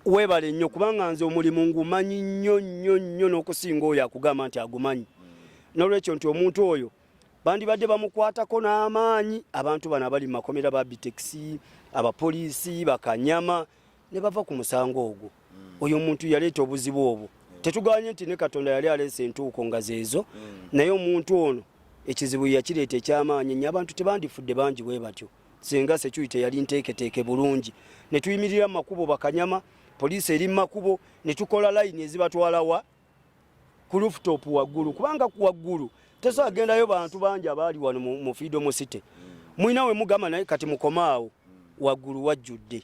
webale nnyo kubanga nze omulimu ngumanyi nnyo nnyo nnyo n'okusinga oyo akugamba nti agumanyi n'olwekyo nti omuntu oyo bandibadde bamukwatako n'amaanyi abantu bano abali mu makomera ba bitekisi abapoliisi bakanyama ne bava ku musango ogwo oyo omuntu yaleeta obuzibu obwo tetuganye nti ne katonda yali aleesa entuuko nga zeezo mm. naye omuntu ono ekizibu yakireeta ekyamaanyi nyo abantu tebandifudde bangi bwe batyo singa sekyuyi teyali nteeketeeke bulungi ne tuyimirira mu makubo bakanyama poliisi eri mu makubo ne tukola layini ezibatwalawa ku lufutopu waggulu kubanga ku waggulu tesobola gendayo bantu bangi abaali wano mu fiidomu site mm. mulina we mugamba naye kati mukomaawo mm. waggulu wajjudde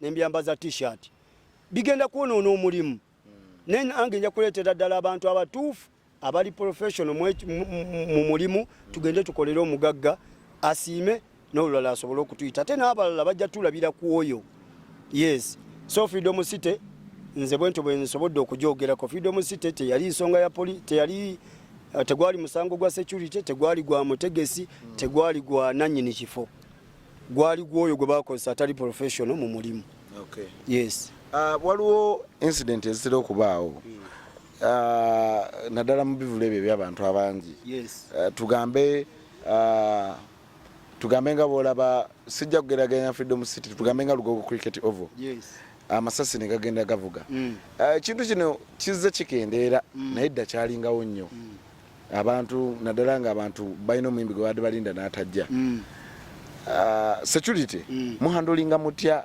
nembyambaza t-shirt bigenda kwonoona omulimu naye nange nja kuleetera ddala abantu abatuufu abali professional mu mulimu tugende tukolere omugagga asiime n'olulala asobole okutuyita ate n'abalala bajja tulabira ku oyo yes so freedom city nze bwentyo bwe nsobodde okugyogerako freedom city teyali nsonga ya poli teyali eh, tegwali musango gwa security tegwali gwa mutegesi tegwali gwa nanyini kifo gwali gwoyo gwe bakozesa atali professional mu mulimu okay. yes uh, waliwo incident ezitera okubaawo hmm. uh, naddala mu bivulu ebyo ebyabantu abangi yes. uh, tugambe uh, tugambe nga bwolaba sijja kugeraganya freedom city tugambe nga lugogo cricket ovo yes. amasasi negagenda gavuga mm. uh, ekintu mm. uh, kino kizze kikendeera mm. naye dda kyalingawo nnyo mm. abantu naddala nga abantu balina omuyimbi gwe baadde balinda n'atajja mm. ah, security mm. muhandolinga mutya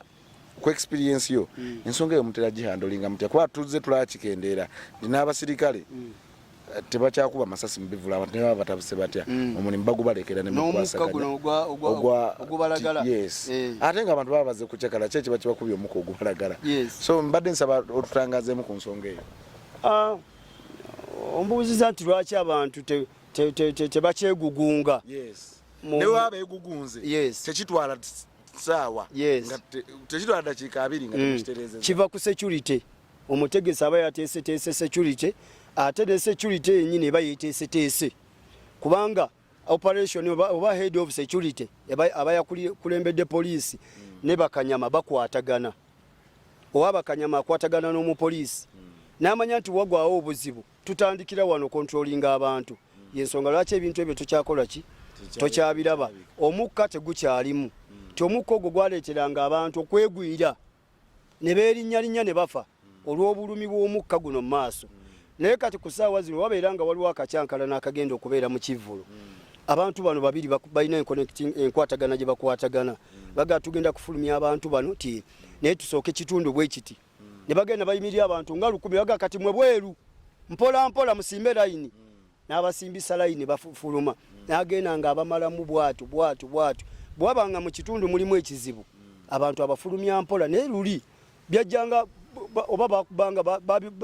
ku experience yo mm. ensonga eyo mutera gihandolinga mutya kuba tuzze tulakikendeera ndina abasirikale mm. tebakyakuba masasi mubivula abantu nebaba batabuse batya mm. omulimu bagubalekera nemukwasaganya eh. ate nga abantu baba baze kucakala ki ekiba kibakubya omuka ogubalagala so mbadde nsaba otutangazemu ku nsonga eyo ah, ombuuziza nti lwaki abantu tebakyegugunga tekitwala saawa tekitwala dakiika abiri nga mm. tekitereeza kiva ku security omutegesi aba yateeseteese security ate ne security yenyini eba yeteeseteese kubanga operation oba, oba head of security abayakulembedde poliisi mm. ne bakanyama bakwatagana oba bakanyama akwatagana n'omupoliisi mm. n'amanya nti wagwawo obuzibu tutandikira wano kontrolinga abantu mm. yensonga lwaki ebintu ebyo tukyakola ki tokyabiraba omukka tegukyalimu mm. ti omukka ogwo gwaleeteranga abantu okwegwira ne beerinnyalinnya ne bafa olw'obulumi bw'omukka guno mu maaso naye kati ku saawa zino wabeera nga waliwo akakyankala n'akagenda okubeera mu kivvulu abantu bano babiri balina enkwatagana gye bakwatagana bagaa tugenda kufulumya abantu bano ti naye tusooke kitundu bwe kiti ne bagenda bayimirira abantu nga lukumi bagaa kati mwe bweru mpola mpola musimbe layini n'abasimbisa layini bafuluma hmm. n'agenda nga abamalamu bwatu bwatu bwatu bwaba nga mu kitundu mulimu ekizibu hmm. abantu abafulumya mpola naye luli byajjanga oba bakubanga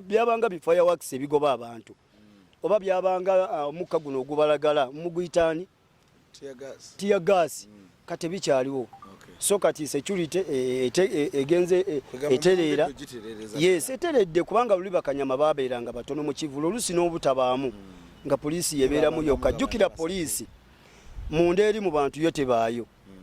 byabanga bifireworks ebigoba abantu hmm. oba byabanga ah, omukka guno ogubalagala muguyitaani tiya gaasi mm. kati bikyaliwo so kati security eh, eh, eh, egenze etereera yes eteredde kubanga luli bakanyama babeeranga batono mu kivulu olusi n'obutabaamu mm. nga poliisi yebeeramu yokka jjukira poliisi munda eri mu bantu yo tebaayo mm.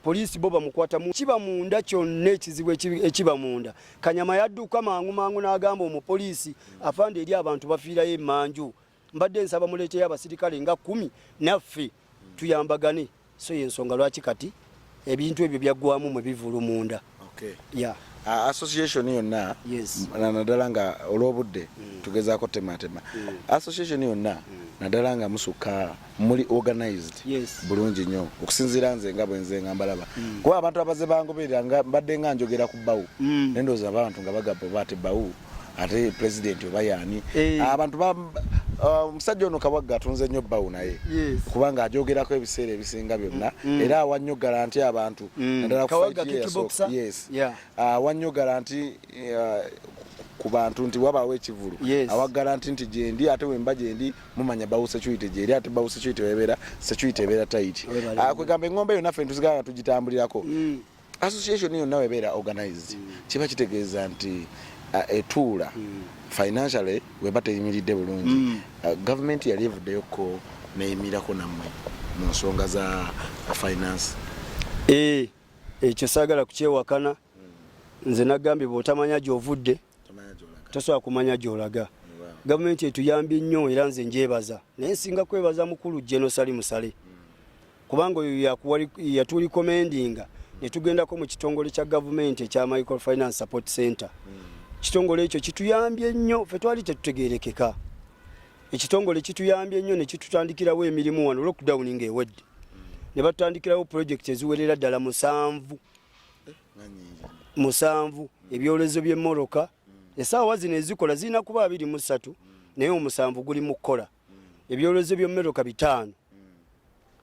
poliisi bo bamukwata kiba munda kyonna ekizibu ekiba munda kanyama yadduka mangu mangu n'agamba omupoliisi afande eri abantu bafiirayo emanju mbadde nsaba muleeteyo abasirikale nga kumi naffe tuyambagane so yensonga lwaki kati ebintu ebyo byaggwamu mwe bivulu munda okay. yeah. Uh, association yonna yes. nadala nga olwobudde mm. tugezako tematema mm. association yonna mm. nadala nga musuka muli organized yes. bulungi nyo okusinzira nze nga bwenze nga mbalaba mm. kuba abantu abaze bangoberera nga mbadde nga njogera ku bawu mm. nendoza abantu nga bagabo bati bawu ate pulezidenti oba yaani eh. ah, abantu ah, omusajja ono kabagga atunze nnyo bbawo naye kubanga ajogerako ebiseera ebisinga byonna mm, mm. era awa nnyo garanti abantu mm. naddala awa nnyo garanti ah, ku bantu nti wabaawo ekivulu awa garanti nti gyendi ate wemba gyendi mumanya bawo security gyeri ate bawo security webeera security ebeera tayiti kwegamba eng'ombe eyo naffe ntuzigala nga tugitambulirako association yonna webeera organized mm. kiba kitegeeza nti uh, etuula mm. financially weba teyimiridde bulungi mm. uh, gavumenti yali evuddeyoko neyimirako nammwe mu nsonga za finance eh, ekyo saagala kukyewakana nze nagambye bwotamanya gyovudde tosobola kumanya gyolaga gavumenti etuyambye nnyo era nze njebaza naye nsinga kwebaza mukulu genosali musale kubanga oyo yatulikomendinga netugendako mu kitongole kya gavumenti ekya micro finance support center kitongole ekyo kituyambye nnyo fe twali tetutegerekeka ekitongole kituyambye nnyo nekitutandikirawo emirimu wano lockdown nga ewedde ne batutandikirawo project eziwerera ddala musanvu musanvu ebyolezo byemoroka esaawa zino ezikola zirina kuba abiri musatu naye omusanvu guli mu kukola ebyolozo by'emmotoka bitaano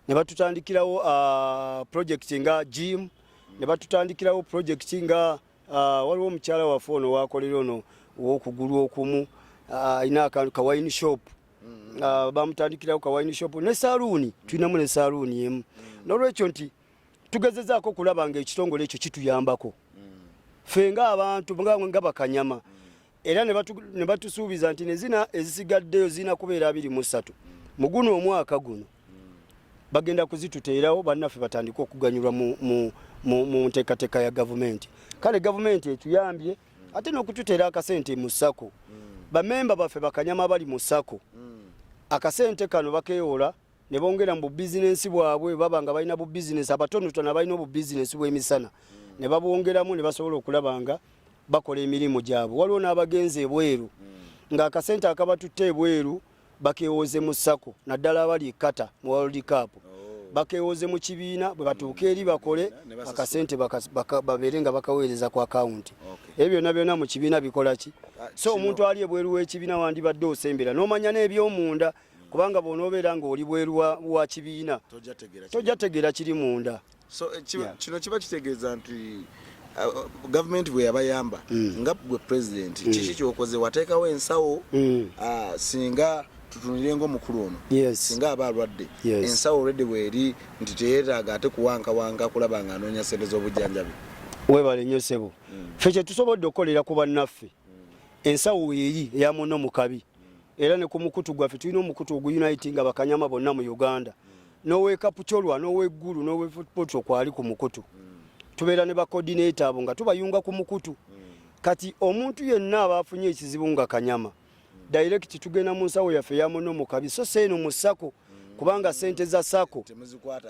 ne batutandikirawo uh, projekiti nga gym ne batutandikirawo projekiti nga uh, waliwo omukyala waffe ono wakolera ono wokugulu okumu uh, alina akantu kawayini shop mm. bamutandikirawo kawayini shop ne saluuni tulinamu ne saluuni emu nolwekyo nti tugezezaako okulaba nga ekitongole ekyo kituyambako mm. fe nga abantu nga bakanyama mm. era ne batusuubiza nti nezina ezisigaddeyo zirina kubeera abiri mu ssatu mu guno omwaka guno bagenda kuzituteerawo bannaffe batandike okuganyulwa mu nteekateeka ya gavumenti kale gavumenti etuyambye ate n'okututeera akasente mu sako bamemba baffe bakanyama abali mu sako akasente kano bakeewola ne bongera mu bubizinensi bwabwe baba nga balina bubizinensi abatonotono abalina obubizinensi bw'emisana ne babwongeramu ne basobola okulaba nga bakola emirimu gyabwe waliwo n'abagenzi ebweru hmm. ng'akasente akabatutte ebweru bakewooze mu sako naddala abali ekata mu world cup oh. bakewooze mu kibiina bwe batuuka eri bakole akasente babeere nga bakaweereza ku akawunti ebyo byonna byonna mu kibiina bikola ki ah, so omuntu ali ebweru w'ekibiina wandibadde osembera n'omanya n'ebyomunda kubanga bw'onoobeera ng'oli bweru wa kibiina tojja tegeera kiri munda eh, kino kiba kitegeeza nti uh, gavumenti bwe yabayamba mm. nga gwe pulezidenti mm. kiki kyokoze wateekawo ensawo mm. uh, singa tutunire nga omukulu ono singa aba alwadde ensawo olwedde bweri nti teyetaaga ate kuwankawanga kulaba nga anoonya sente z'obujjanjabi webale nyo sebo mm. fe kyetusobodde okukolera ku bannaffe mm. ensawo weeri eyamuno mukabi era ne ku mukutu gwaffe tulina omukutu oguuniti nga bakanyama bonna mu uganda nowekapucolwa noweggulu nowepotro kwali ku mukutu tubeera ne bakodinate abo nga tubayunga ku mukutu kati omuntu yenna aba afunye ekizibu nga kanyama direct tugenda mu nsawo yaffe yamuno mukabi so seeno mu sako kubanga sente za sako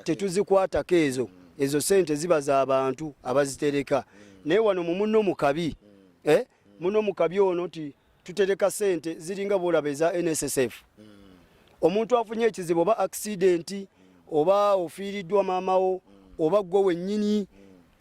tetuzikwatako ezo ezo sente ziba za bantu abazitereka naye wano mu muno mukabi eh? muno mu kabi ono ti tutereka sente ziringa bwolaba eza nssf omuntu afunye ekizibu oba akisidenti oba ofiiriddwa maamawo oba gwe wennyini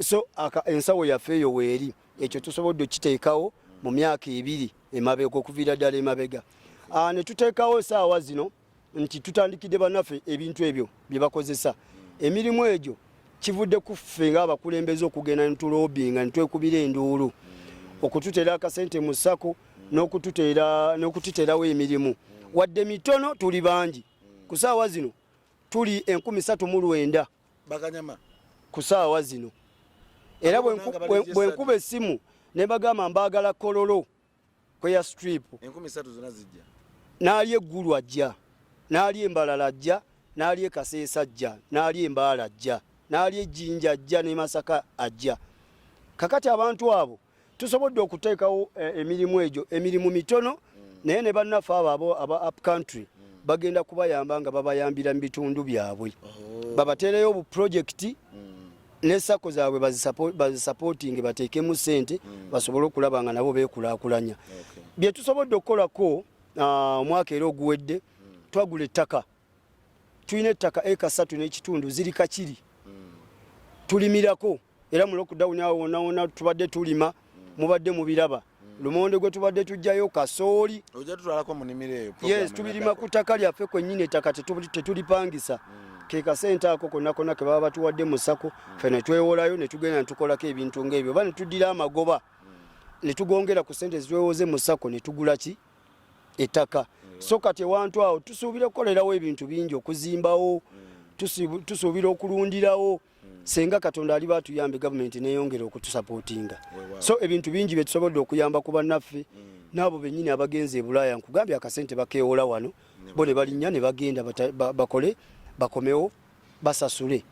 so ensawo yaffe eyo weeri ekyo tusobodde okiteekawo mu myaka ebiri emabega okuviira ddala emabega ah, ne tuteekawo esaawa zino nti tutandikidde banaffe ebintu ebyo bye bakozesa emirimu egyo kivudde ku ffe ng'abakulembeze okugenda netulobinga netwekubira enduulu okututeera akasente mu sako n'okututerawo emirimu wadde mitono tuli bangi ku saawa zino tuli enkumi satu mu lwenda ku saawa zino era bwenkuba essimu ne bagamba mbaagala kololo kweya strip enkumi satu zona zijja naali eggulu ajja naali embalala ajja naali ekaseesa ajja naali embaala ajja naali ejjinja ajja ne masaka ajja kakati abantu abo tusobodde okuteekawo eh, emirimu egyo emirimu mitono mm. naye ne bannaffe abo abo aba up country mm. bagenda kubayamba nga babayambira mu bitundu byabwe oh. babateereyo obuprojekiti mm. ne sako zaabwe bazisapootinge bateekemu ssente mm. basobole okulaba nga nabo beekulaakulanya bye tusobodde okukolako ah, omwaka era oguwedde mm. twagula ettaka tulina ettaka eka ssatu n'ekitundu ziri kakiri mm. tulimirako era mu lockdown awo wonawona tubadde tulima mubadde mubiraba lumonde gwe tubadde tujjayo kasooli yes tubirima ku ttaka lyaffe kwennyini ettaka tetulipangisa hmm. ke kasente ako konna konna ke baba batuwadde mu sako hmm. fe ne twewolayo ne tugenda ne tukolako ebintu ng'ebyo oba ne tuddira amagoba hmm. ne tugongera ku sente zitwewoze mu sako ne tugula ki ettaka so kati ewantu awo tusuubira okukolerawo ebintu bingi okuzimbawo tusuubira okulundirawo mm. senga katonda aliba atuyambe gavumenti neyongera okutusapootinga so ebintu bingi byetusobodde okuyamba ku bannaffe mm. naabo bennyini abagenze e bulaaya nkugambye akasente bakeewola wano bo ne balinnya ne bagenda bakole bakomewo basasule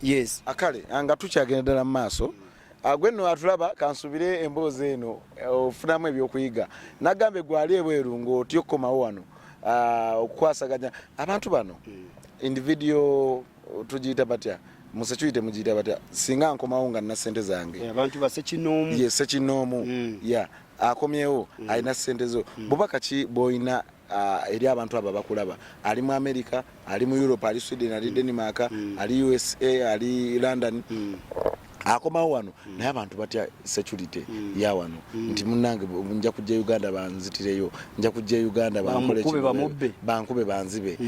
yes akale ah, nga tukyagenda ddala mu maaso ah, gwe nno atulaba kansubire emboozi eno eh, ofunamu ebyokuyiga nagambe gwali ebweru ngaotya okukomawo wano ah, okukwasaganya abantu bano mm. individual tugiyita batya musekyuyi temugiyita batya singa nkomawo nga nina sente zange eh, abantu basekinoomu ye sekinoomu hmm. ya akomyewo hmm. alina sente zo hmm. bubaka ki bwoyina ah, eri abantu abo bakulaba ali mu america ali mu europe ali sweden ali denmark ali usa ali london akomawo wano mm. naye abantu batya security mm. ya wano mm. nti munange nja kujja uganda banzitireyo nja kujja uganda bankube banzibe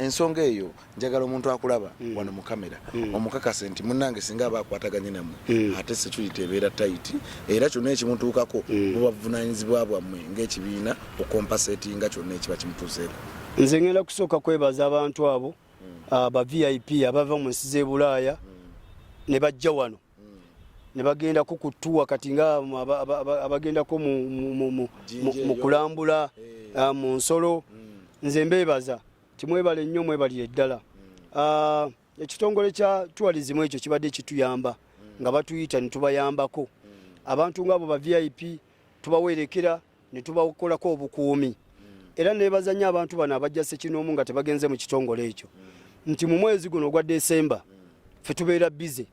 ensonga eyo njagala omuntu akulaba mm. wano mu kamera mm. omukakase nti munange singa aba akwataganye namwe mm. ate security ebeera tayiti era kyonna ekimutuukako mm. bubavunanyizibwa bwammwe ngaekibiina okompaseti nga kyonna ekiba kimutuuseeko nze ngenda kusooka kwebaza abantu abo mm. uh, ba vip abava mu nsi z'ebulaaya mm. ne bajja wano mm. ne bagendako ku tuwa kati nga abagendako mu kulambula hey. Eh. uh, mu nsolo mm. nze mbeebaza timwebale nnyo mwebalire ddala ah, ekitongole kya tourism ekyo kibadde kituyamba mm. nga batuyita netubayambako mm. abantu ngaabo ba vip tubawerekera netubakolako obukuumi mm. era nebazanya abantu bano abajja sekinoomu nga tebagenze mu kitongole ekyo nti mu mwezi guno ogwa desemba fe tubeera bize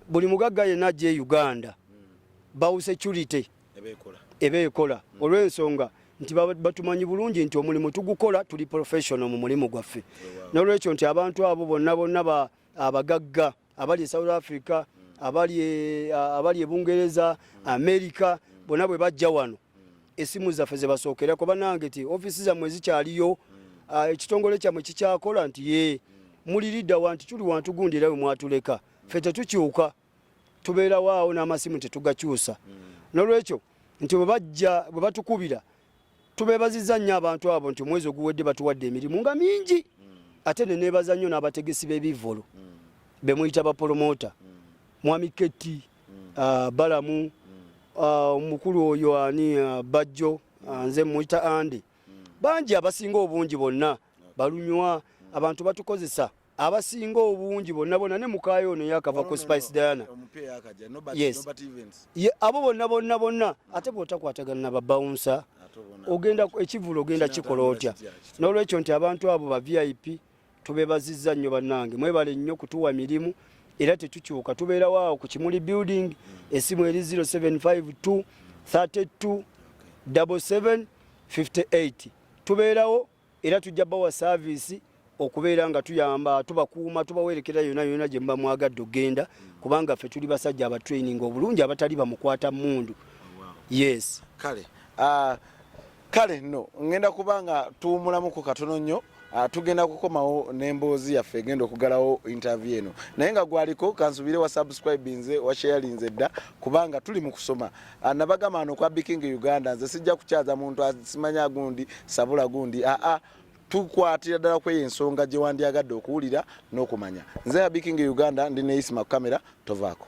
buli mugagga yenna ajja e uganda bawu security eba ekola olw'ensonga nti batumanyi bulungi nti omulimu tugukola tuli professional mu mulimu gwaffe oh, n'olwekyo nti abantu abo bonna bonna abagagga abali e south africa abali e, abali e bungereza america bonna bwe bajja wano esimu zaffe zebasookerako banange ti ofisi zammwe zikyaliyo ah, ekitongole kyammwe kikyakola nti ye muliridawa nti tuli wantu gundi era we mwatuleka ffe tetukyuka tubeerawo awo n'amasimu tetugakyusa mm. nolwekyo nti bwebajja bwe batukubira tubebaziza nnyo abantu abo nti omwezi oguwedde batuwadde emirimu nga mingi mm. ate nenebaza nnyo n'abategesi b'ebivvolo mm. bemuyita bapolomota mwami ketti uh, balamu uh, omukulu uh, oyo ani uh, bajjo uh, nze muyita andi bangi abasinga obungi bonna balunywa abantu batukozesa abasinga obungi bonna bonna ne mukaayo ono yakava ku spice diana yes abo bonna bonna bonna ate bwotakwatagana na babawunsa ogenda ekivulu ogenda kikola otya n'olwekyo nti abantu abo ba vip tubebaziza nnyo bannange mwebale nnyo kutuwa mirimu era tetukyuka tubeerawo awo ku kimuli building mm. esimu eri 0752 32 77 58 tubeerawo era tujja bawa saaviisi okubeera nga tuyamba tubakuuma tubawerekera yona yona gye muba mwagadde okugenda kubanga ffe tuli basajja abatraining obulungi abatali bamukwata mundu yes kale uh, kale no ngenda kuba nga tuwumulamuku katono nnyo uh, tugenda kukomawo n'emboozi yaffe egenda okugalawo intervie eno naye nga gwaliko kansubire wa subscribe nze washayalinze dda kubanga tuli mu kusoma anabagamba ah, no kwa biking uganda nze sijja kukyaza muntu asimanya gundi sabula gundi a a tukwatira dala kwe ensonga je wandi agadde okuwulira nokumanya nze ya biking uganda ndi ne isma kamera tovako